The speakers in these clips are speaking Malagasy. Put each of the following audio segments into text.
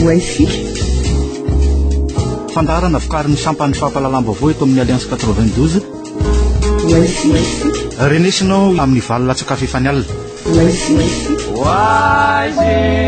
Wi-Fi. Fandaharana vokarin'ny sampan'ny fampahalalam-baovao eto amin'ny Alliance 92. Wi-Fi. Renesinao amin'ny valo latsaka fefany alina. Wi-Fi. Wi-Fi.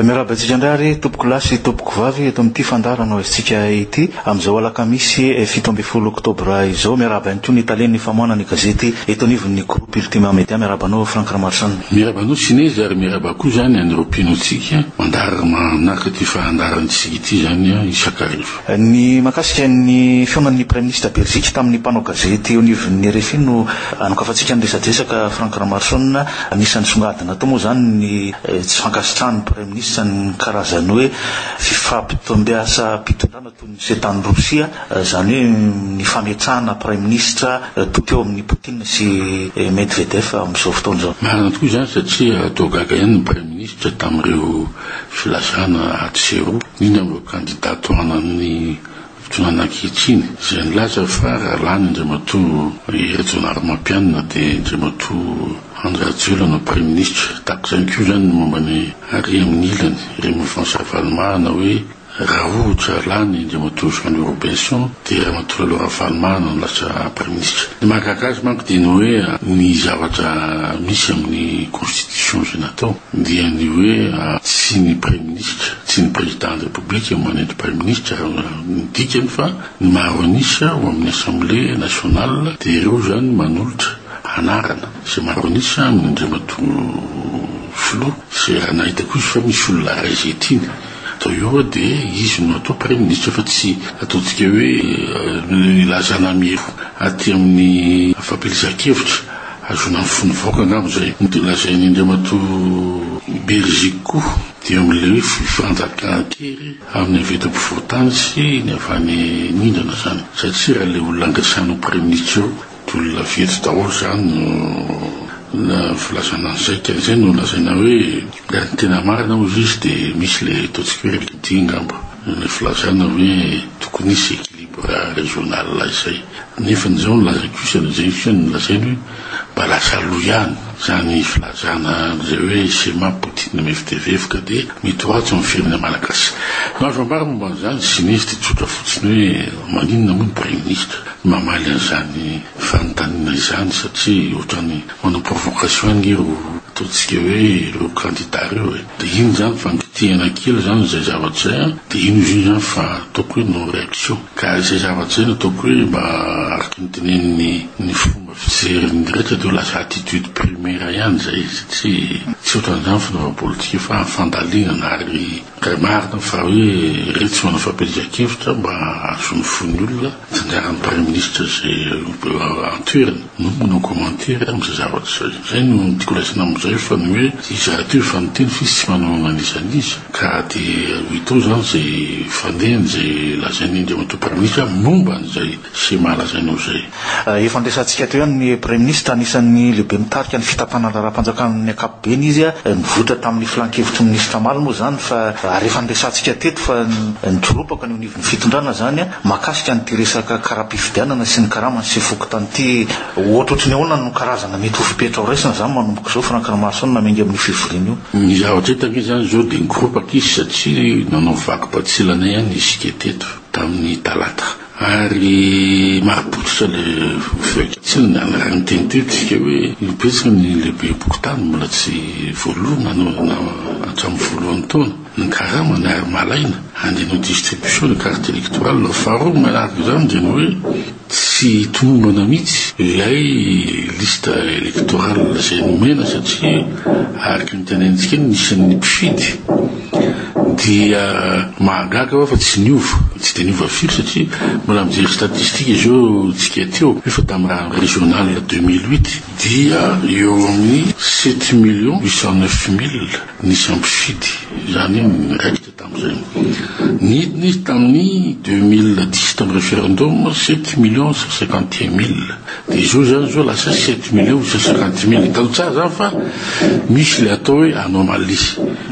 Miarahaba antsika indray ary tompokolahy sy tompokovavy eto amin'ity fandaharana ho aizintsika ity amin'izao alakamisy fito ambin'ny folo oktobra izao. Miarahaba ihany koa ny talen'ny famoahana ny gazety eto anivon'ny groupe Ultima Media. Miarahaba anao Franck Ramaroson. Miarahaba anao Sinezy ary miarahaba koa izany an'ireo mpino antsika mandaharana manaraka ity fandaharantsika ity izany isakariva. Ny mahakasika ny fihaonan'ny Praiminisitra Belzika tamin'ny mpanao gazety eo anivon'ny rfi no anokafantsika ny resadresaka Franck Ramaroson. Anisan'ny nisongadina tao moa izany ny tsy fankasitrahan'ny Praiminisitra ny karazan'ny hoe fifampitombiasam-pitondrana toy ny ceta any Rosia, izany hoe ny fametrahana Praiminisitra toky eo amin'i Poutine sy Medvedev amin'izao fotoana izao. Marina tokoa izany satria toa gaga ihany ny Praiminisitra tamin'ireo. Filazana atsy sy eroa ny eny amin'ireo kandida tohanan'ny fitondrana ankehitriny izay nilaza fa raha lany Andriamatoa Hery Jaonarimampianina dia Andriamatoa Andry Rajoelina no Praiminisitra. Tahaka izany koa izany ny momba ny ary amin'ny ilany, ireo mouvance Ravalomanana hoe, Raha ohatra lany Andriamatoa Jean Louis Robinson dia Ramatoa Lalo Ravalomanana no lasa Praiminisitra. Ny mahagaga azy manko dia ny hoe ny zavatra misy amin'ny Constitution izay natao dia ny hoe tsy ny Praiminisitra, tsy ny Président de République no manendry Praiminisitra raha ny dikany fa ny maro an'isa ao amin'ny Assemblée Nationale dia ireo izany manolotra anarana izay maro an'isa amin'Andriamatoa Filoha izay raha nahita koa izy fa misy olona iray izay tiany Toy io aho dia izy no atao praiminisitra fa tsy ataontsika hoe ilazana amiero aty amin'ny fampielezan-kevitra. Ahazoana ny fon'ny vahoaka angamba izay. Ny dia lazainy Andriamatoa Beriziky koa dia amin'ilay hoe fifanjakan-kery amin'ny avy eto ampovoan-tany sy ny avy any nindrana izany satria raha ilay olona angasana ho praiminisitra eo Olona fetsy daholo izany no filazana ny saika, izay no lazaina hoe raha ny tena marina hoy izy izy dia misy ilay ataontsika hoe redi angamba, ilay filazana hoe tokony hisy équilibre régional izay. Nefa ny izao ny lazaiko io sy an'izay io kosa ny lazainy hoe mba lasa aloha ihany izany filazana an'izay hoe Cema, Poutine, MFDVF ka dia mety ho ratsy amin'ny firenena malagasy. Ny azo ambara momba an'izany, tsy misy dia tsotra fotsiny hoe maninona moa ny praiminisitra Mamaly an'izany fanontaniana izany satria ohatrany manao provocation ange ro ataontsika hoe ireo kandida ireo e! de iny zany fa nikitihana kely zany izay zavatra izay an! de iny izy io zany fa ataoko hoe non reaction ka izay zavatra izay no ataoko hoe mba araka ny tenenin'ny ny fomba fijerin'ny rehetra de ho lasa attitude primaire ihany izay satria tsy ohatran'izany fanaovam-politika fa fandalinana ary Ka marina fa hoe iretsy manao fampielezan-kevitra mba hahazo ny fon'ny olona, tsinjaran'ny Praiminisitra izay an-toerana no manao commentaire amin'izay zavatra izay. Izay no tiako raisina amin'izay fa ny hoe iza rahateo efa niteny fa izy tsy manao an'iza an'iza ka dia ho hita ao izany izay fandehany izay lazain'ny Andriamatoa Praiminisitra momba an'izay sy mala izay noho izay. Efa niresahantsika teo ihany ny Praiminisitra, anisan'ny lehibe mitarika ny fitantana ny raharaham-panjakana amin'ny ankapobeny izy. Nivoitra tamin'ny filan-kevitry ny Minisitra Mala moa izany fa ary efa niresahantsika teto fa nitsoropaka ny eo anivon'ny fitondrana izany mahakasika an'ity resaka karam-pifidianana sy ny karamany sy fokontany ity. Ohatrohatry ny ahoana no karazana mety ho fepetra ho raisina izany manomboka izao Franck Ramaroson na miainga amin'io fivoriana io? Ny zavatra hita ve izany izao dia nikoropaka izy satria nanao vaky batsilana ihany isika teto tamin'ny talata Ary mahapototra le feky tsy ny anarany teny tetika hoe io betsaka ny lehibe bokotany mbola tsy voaloa na no na hatramin'ny voalohan'ny taona ny karamany ary malaina handinao distribution ny carte electorale no faharoa manaraka izany dia ny hoe tsy tomombana mihitsy ilay liste electorale izay nomena satria araka ny tenenintsika eny ny isan'ny mpifidy Dia mahagaga aho fa tsy niova, tsy dia niova firy satria mbola mijery statistika izao tsika teo, efa tamin'ny raha ny régional ya deux mille huit dia eo amin'ny sept millions huit cent neuf mille nisy ny mpifidy, izany hoe niraikitra tamin'izay. Nidina izy tamin'ny deux mille dix tamin'ny referendum, sept millions cent cinquante et un mille. Dia izao izany izao lasa sept mille eo sa cinquante mille. Hitany tsara izany fa misy ilay atao hoe anomalies,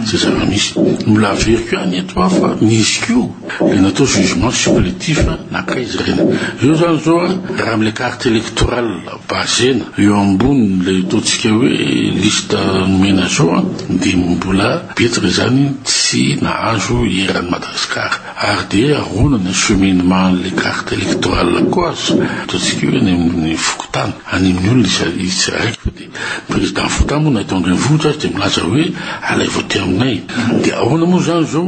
izay zava-misy. Mbola averiko ihany eto aho fa nisy koa ilay natao jugement supplétif nankaiza ireny. Izao izany izao raha amin'ilay carte électorale base-na eo ambonin'ilay ataontsika hoe liste nomena izao dia mbola betsaka izany tsy nahazo eran'i Madagasikara. Ary dia ahoana ny cheminement an'ilay carte électorale koa aza ataontsika hoe any amin'ny fokontany, any amin'ny olona izy izy raiky fa dia ny président fokontany moa na eto an-drenivohitra aza dia milaza hoe alaivo aty aminay. Dia ahoana moa izany izao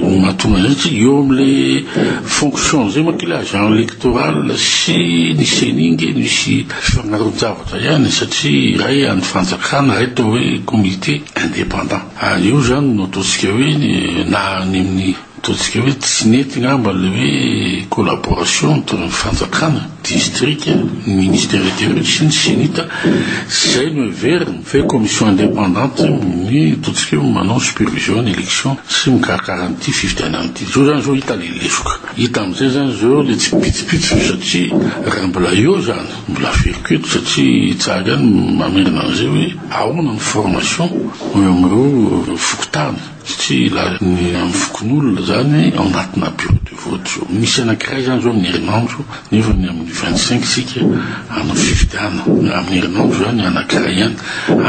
no mahatonga an'izay tsy eo amin'ilay fonction izay manko ilay agent électoral sy ny ceni ange misy fifagnaroan-javatra ihany satria iray an'ny fanjakana iray atao hoe comité indépendant. Ary io izany no ataontsika hoe ny na any amin'ny ataontsika hoe tsy nety angamba ilay hoe collaboration entre ny fanjakana, distrika, ny ministère intérieur sy ny CENI-T. Izay no heveriny fa hoe commission indépendante ny ataontsika hoe manao supervision ny élection sy mikarakara an'ity fifidianana ity. Izao izany izao hita ilay lesoka. Hita amin'izay izany izao ilay tsipitsipitsy satria raha mbola eo izany, Mbola averiko eto satria i Tsaga any mamerina an'izay hoe ahoana ny formation eo amin'ireo fokontany satria ilazany ny amin'ny fokonolona izany ao anatina bureau de vote zao. Misy anankiray izany izao amin'ny herinandro nefa ny amin'ny vingt cinq isika hanao fifidianana. Amin'ny herinandro izany anankiray ihany.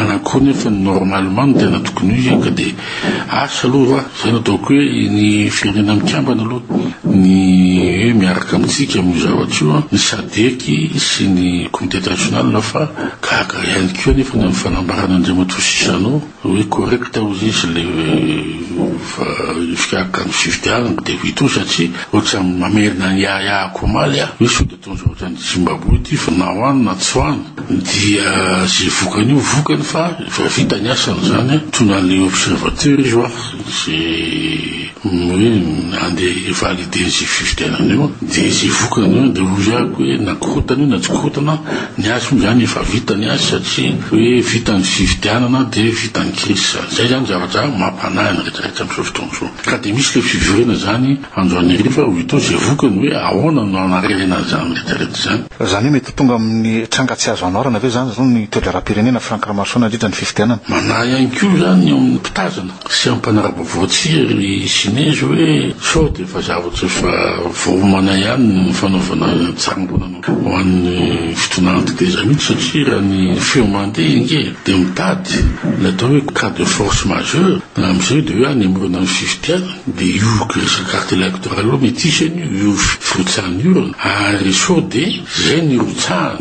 Anakory nefa ny normalement no tena tokony ho izy ka dia. Asa aloha, izay no ataoko hoe ny Firenena Mikambana aloha ny hoe miaraka amintsika amin'io zavatra io ny Sadec sy ny Comité International fa gaga ihany koa anefa ny amin'ny fanambarana Andriamatoa sy Jeannot hoe correct hozy izy ilay fikarakarana ny fifidianana dia ho hita eo satria ohatran'ny mamerina ny yaya akomaly aho hoe sao dia Mitondra ohatran'ny Zimbabwe ity fa na ho any na tsy ho any dia izay vokany io vokany fa efa vita ny asany izany an. Mitondra an'ilay observateur izy ho'a izay hoe handeha hi-valider izay fifidianana io dia izay vokany eo dia hoy aby hoe na korotana io na tsy korotana ny azy moa izany efa vita ny azy satria hoe vita ny fifidianana dia vita ny crise izany. Izay izany zavatra mampanahy ny rehetra rehetra amin'izao fotoana izao ka dia misy ilay fivoriana izany Andro anirifa hoy itoa izay vokany hoe ahoana no hanarenana izany retraite izany. Fa izany hoe mety ho tonga amin'ny tranga tsy azo anaorana ve izany hoy ny teodraram-pirenena Franck Ramaroson nandritra ny fifidianana. Manahy ihany koa izany ny ao amin'ny mpitazana sy amin'ny mpanara-baovao tsia ry Sinezy hoe sao dia efa zavatra efa voaomana ihany ny fanaovana tsaram-bolana ho an'ny fitondrana teteza mihitsy satria raha ny feo mandeha ange dia mitady ny atao hoe cas de force majeure na amin'izay dia hoe hanemorana ny fifidianana. Dia io crise carte electorale io metisy an'io, io firotsahana io ary sao dia izay nirotsahana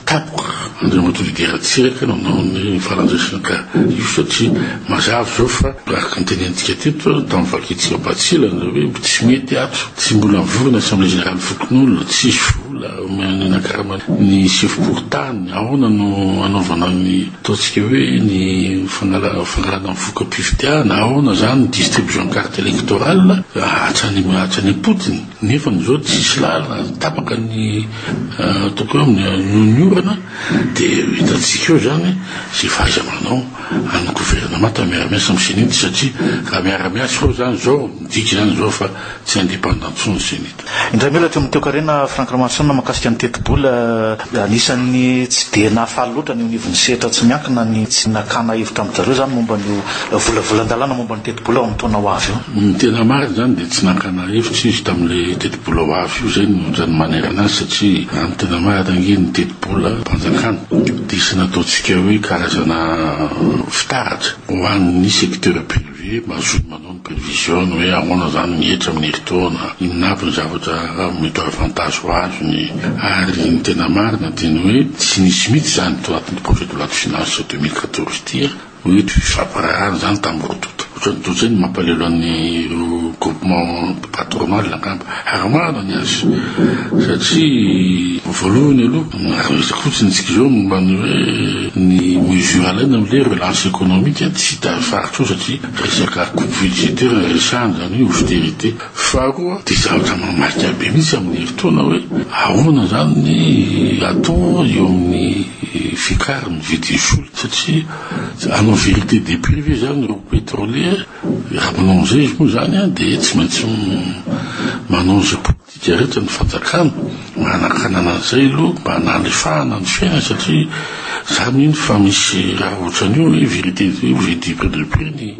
tapoka Andriamatoa Didier Ratsiraka nanao ny farandraisana ka io satria mazava izao fa araka ny tenenintsika teto tamin'ny vakintsika batsilana hoe tsy mety ato, tsy mbola nivory ny assemblée générale fokonolona, tsisy vola omena ny karama ny sefom-pokontany, ahoana no hanaovana ny Ataontsika hoe ny fangalana fangalana ny voka-pifidianana, ahoana izany ny distribution carte électorale, hatrany hatrany am-potony. Nefa amin'izao tsisy lalana, tapaka ny ataoko hoe noho ny orana, dia hitantsika eo izany izay fahaiza-manao an'ny gouvernemanta miara-miasa amin'ny CENI, satria raha miara-miasa eo izany izao, midika izany izao fa tsy indépendant intsony ny CENI. Indray mihatra amin'i Toekarena Franck Ramarosaona mahakasika ny tetibola, anisan'ny tsy dia nahafaly loatra ny eo anivon'ny sehatra tsy miankina ny tsy nakana hevitra amin-dry zareo izany momba an'io volavolan-dalàna momba ny tetibola ao amin'ny taona ho avy io. Ny tena marina izany dia tsy nakana hevitra izy tamin'ilay tetibola ho avy io, izay no ohatran'ny manerana azy satria raha ny tena marina ange ny tetibolam-panjakana dia tsy nataontsika hoe karazana fitaratra ho an'ny secteur public. Ve mazoto manao ny prevision hoe ahoana izany ny hetra amin'ny herintaona, inona avy ny zavatra mety ho avantages azony, ary ny tena marina dia ny hoe tsy nisy mihitsy izany tao anatin'ity projet de loi de finances deux mille quatorze ity hoe toy ny fifampiraharahana izany tamin'ny roa tonta. Ohatran'ny dotse no mampalahelo an'ireo groupement. Atoromalla angamba hahamaro ny azy satria voalohany aloha raha resaka fotsiny isika izao momba ny hoe ny mesures alaina amin'ilay relance économique tsy hita faritra eo satria resaka coupe budgétaire no resahana izany hoe austerité. Faharoa dia zavatra mamaika be mihitsy amin'ny herintaona hoe ahoana izany ny atao eo amin'ny fiakaran'ny vidin'ny solika satria hanao vérité des prix ve izany ireo pétroliers? Rabemonina Moises izy moa izany dia tsy maintsy manao izay politika rehetra ny fanjakana mba hanakanana an'izay aloha mba hanalefahana ny fiainany satria za mino fa misy raha ohatran'io hoe vérité io ve dipo de peu ny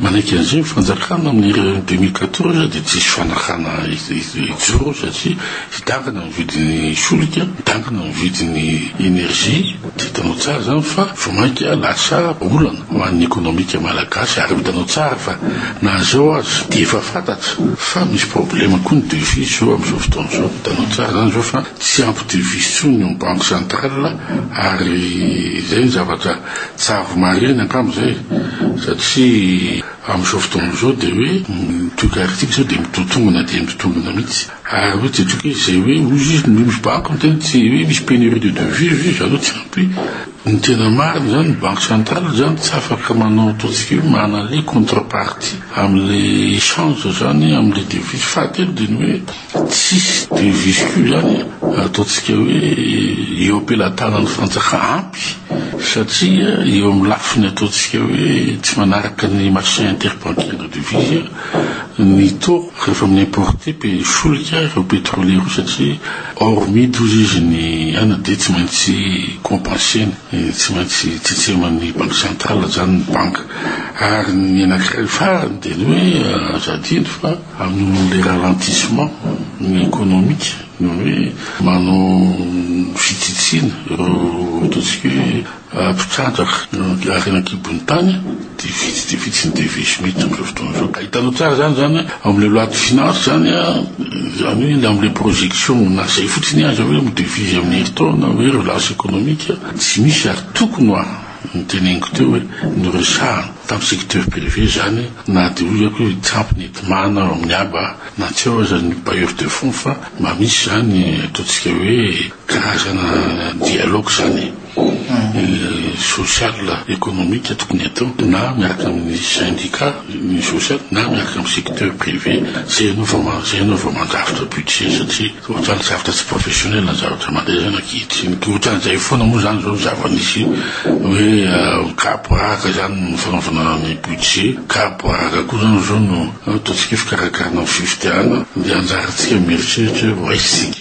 manaiky an'izay ny fanjakana amin'ny deux mille quatorze dia tsisy fanakana hijoro satria hidangana ny vidin'ny solika, hidangana ny vidin'ny énergie. Tsy hitanao tsara izany fa vao mainka lasa olana ho an'ny ekonomika malagasy ary hitanao tsara fa na izao aza dia efa fantatra fa misy problema koa ny devise izao amin'izao fotoana izao. Hitanao tsara izany izao fa tsy ampy devise intsony eo ny banque centrale ary izay ny zavatra tsara ho marihina angamba izay satria amin'izao fotoana izao dia hoe ny toekariktsika izao dia mitotongona dia mitotongona mihitsy. Ary hoe tsy tokony izay hoe hoy izy ny hoe misy banky miteny tsy hoe misy pénurie de devises hoe zareo tsy ampy ny tena marina izany ny banque centrale izany tsy afaka manao ataontsika hoe manale contrepartie amin'le échange izany amin'le devises fahatelo dia ny hoe tsisy devises koa izany ataontsika hoe eo am-pelatanan'ny fanjaka ampy satria eo amin'ny lafiny ataontsika hoe tsy manaraka ny marché interbancaire de devises ny tour rehefa mi importer pe solika ireo petrole ireo satria hors mid hozy izy ny aina dia tsy maintsy compenser-ny tsy maintsy tsitseman'ny banque centrale zany ny banque ary ny anakiray farany dia ny hoe aza adino fa amin'io le ralentissement ny economique ny hoe manao fitsitsiana ireo ataontsika hoe mpitrandraka ny harena an-kibon'ny tany dia vitsy dia vitsy ny devises mety amin'izao fotoana izao. Hitanao tsara izany izany an, ao amin'ilay loi de finance izany an, izany hoe ny amin'ilay projection mona izay fotsiny aza hoe ny devises amin'ny herintaona hoe relance économique tsy misy ary tokony ho an, ny teneniko teo hoe noresahana tamin'ny secteur privé izany na dia hoy aho hoe tsy ampy ny enti-mana ao amin'ny aba na tsy ao aza ny bailleurs de fonds fa mba misy izany ataontsika hoe karazana dialogue izany. social economique tokony atao na miaraka amin'ny syndicat ny social na miaraka amin'ny secteur privé zay ianao vao ma- zay ianao vao mandrafitra budget satria ohatran'ny zavatra tsy professionnel ny zavatra mandeha zany ankehitriny dia ohatran'izay foana moa zany zao ny zava-nisy hoe ah, kapoaraka zany no fanaovana ny budget kapoaraka koa zany zao no ataontsika hoe fikarakarana ny fifidianana dia anjarantsika mieritreritra hoe ho aiza isika